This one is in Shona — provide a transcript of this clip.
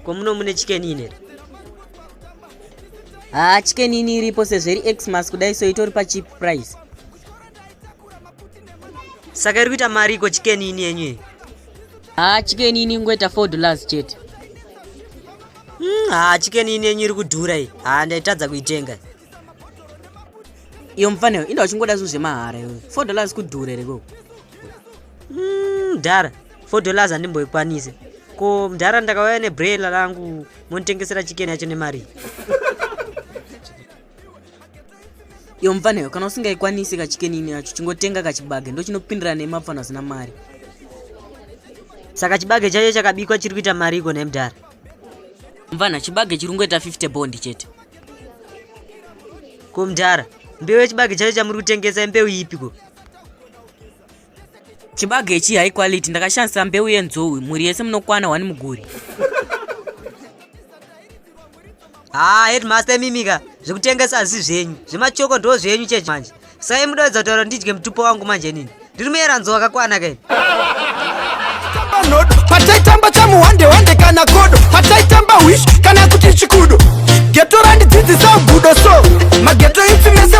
komuno mune chikenini here haa chikenini iripo sezveri xmas kudai so itori pacheap price saka iri kuita mari iko chikeni ini yenyu iyi haa chikeni ini ingoita four dollars chete hmm, haa chikeni ini yenyu iri kudhura iyi haa ndaitadza kuitenga iyo mufaneo inda uchingoda zvinhu zvemahara iyo four dollars kudhura here koko hmm, mdhara four dollars handimboikwanise ko mdhara ndakauya nebrela rangu monitengesera chikeni yacho nemari iyo mupfanhayo kana usingaikwanisi kachikenini yacho chingotenga kachibage ndochinopindira nemapfana asina mari saka chibage chacho chakabikwa chiri kuita mari iko nemdhara mupfanha chibage chiri kungoita 50 bondi chete ko mdhara mbeu yechibage chacho chamuri kutengesa imbeu ipiko chibage ichi high quality ndakashandisa mbeu yenzou mhuri yese munokwana wani muguri haa ah, headmaster imimika zvekutengesa hazvisi zvenyu zvemachoko ndo zvenyu chechi manje sai mudoedza kutaura ndidye mutupo wangu manje nini ndiri muyera nzou wakakwana kaini pataitamba chamuhande hande kana kodo pataitamba hwish kana kuti chikudo geto randidzidzisa ugudo so mageto ipfi mese